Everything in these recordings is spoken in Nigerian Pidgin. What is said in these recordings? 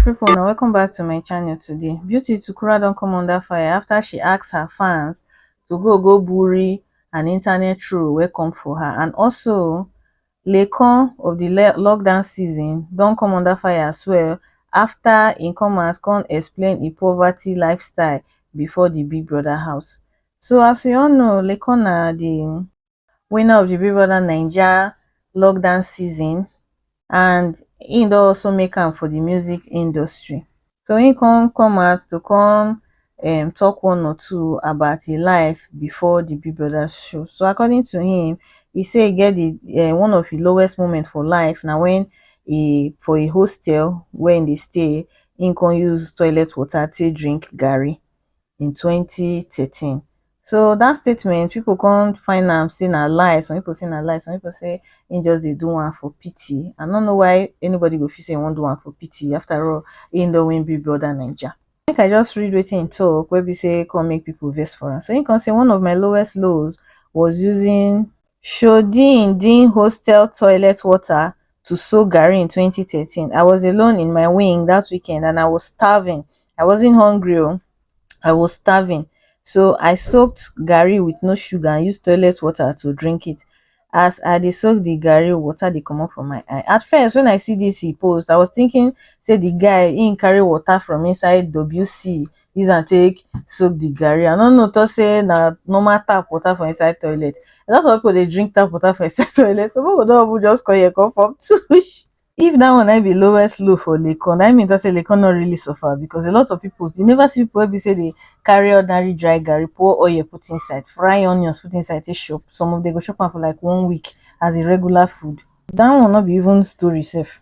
people na welcome back to my channel today beauty tukura don come under fire after she asked her fans to go go bury an internet troll wey come for her and also lecon of the lockdown season don come under fire as well after im come out come explain im poverty lifestyle before the big brother house so as we all know lecon na the winner of di big brother naija lockdown season and im don also make am for di music industry so im come come out to come um talk one or two about im life before di big brother show so according to him he say e get di um one of im lowest moment for life na when e for a hostel wey im dey stay im come use toilet water take drink garri in twenty thirteen so dat statement pipu come find am sey na lie some pipu say na lie some pipu say him just dey do am for pity I no know why anybody go fit say him wan do am for pity after all him don win big brother naija make I just read wetin him talk wey be sey come make pipu vex for am so him come say one of my lowest lows was using shoddy in din hostel toilet water to sew garri in twenty thirteen I was alone in my wing that weekend and I was starving I wasn't hungry oh I was starving so I soaked garri with no sugar and used toilet water to drink it as I dey soak the garri water dey comot for my eye at first when I see this he post I was thinking say the guy he carry water from inside WC use am take soak the garri i no know talk say na normal tap water for inside toilet a lot of people dey drink tap water for inside toilet some people don even just come here come form tush if that one na im be lowest low for lekon na im mean talk say lekon no really suffer because a lot of people you never see people wey be say dey carry ordinary dry garri pour oil put inside fry onions put inside take chop some of them go chop am for like one week as a regular food that one no be even story sef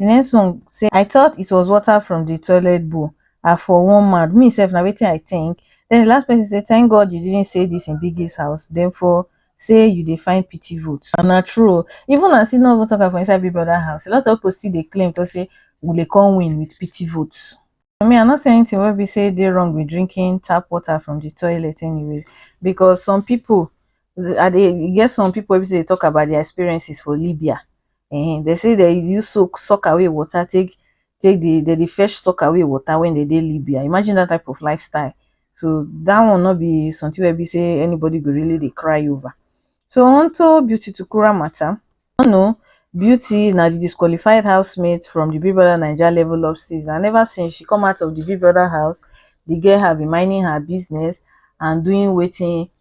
Nyesom say I thought it was water from the toilet bowl, I for wan mad, me sef na wetin I think, then the last person say thank God you didn't say this in Biggie's house, dem for say you dey find pity vote. And na true o, even as he no even talk am for inside Big Brother house, a lot of people still dey claim to say we dey come win with pity votes. For me I no see anything wey be say dey wrong with drinking tap water from the toilet anyways because some people, I dey, e get some people wey be say dey talk about their experiences for Libya, um dey say dey use soak soak away water take take dey dey dey fetch soak away water when dey dey Libya imagine that type of lifestyle so that one no be something wey be say anybody go really dey cry over so onto Beauty Tukura matter you no know Beauty na the disqualified housemate from the Big Brother Naija level up season and ever since she come out of the Big Brother house the girl have been minding her business and doing wetin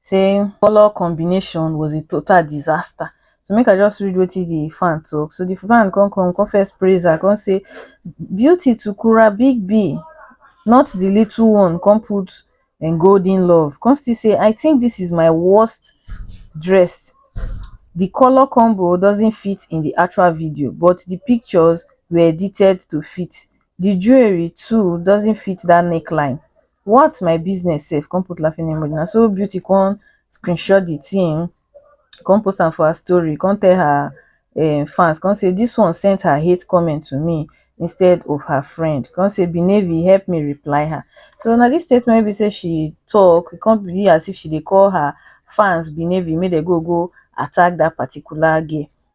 saying color combination was a total disaster so make i just read wetin the fan talk so the fan come come come first praise her come say beauty to kura big b not the little one come put and golden love come still say i think this is my worst dressed the color combo doesn't fit in the actual video but the pictures were edited to fit the jewelry too doesn't fit that neckline what my business sef come put laughing emoji na so beauty come screenshot the thing come post am for her story come tell her um, fans come say this one sent her hate comment to me instead of her friend come say benevi help me reply her so now this statement be say she talk it can't be as if she they call her fans benevi made they go go attack that particular girl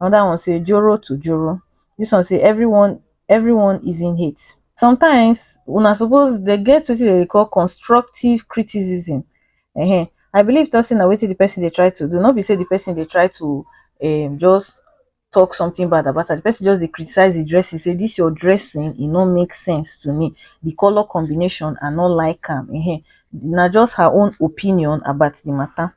Another one say joro to joro. This one say everyone everyone is in hate. Sometimes una suppose dey get wetin dem dey call constructive criticism. Ehen I believe talk say na wetin the person dey try to do no be say the person dey try to um just talk something bad about her. The person just dey criticize the dressing say this your dressing e no make sense to me. The colour combination I no like am um na just her own opinion about the matter.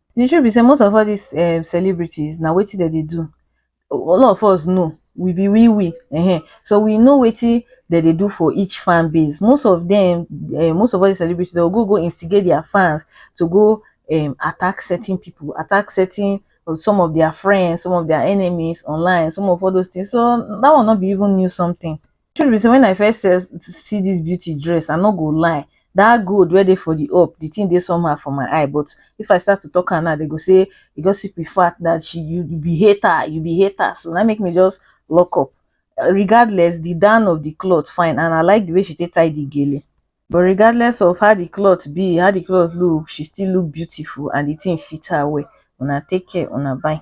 The truth be sey most of all dis um celebrities na wetin dem dey do all of us know we be we we um so we know wetin dem dey do for each fan base. Most of dem um most of all dis celebrities dey go go instigate their fans to go um attack certain pipu, attack certain some of their friends, some of their enemies online, some of all those things. So dat one no be even new something. truth be sey when I first see dis beauty dress I no go lie dat gold wey dey for de up de thing dey somehow for my eye but if I start to talk am now dem go sey you just see de fact dat she you be hater you be hater so na im make me just lock up regardless de down of de cloth fine and I like de way she take tie de gele but regardless of how de cloth be how de cloth look she still look beautiful and de thing fit her well una take care una bye.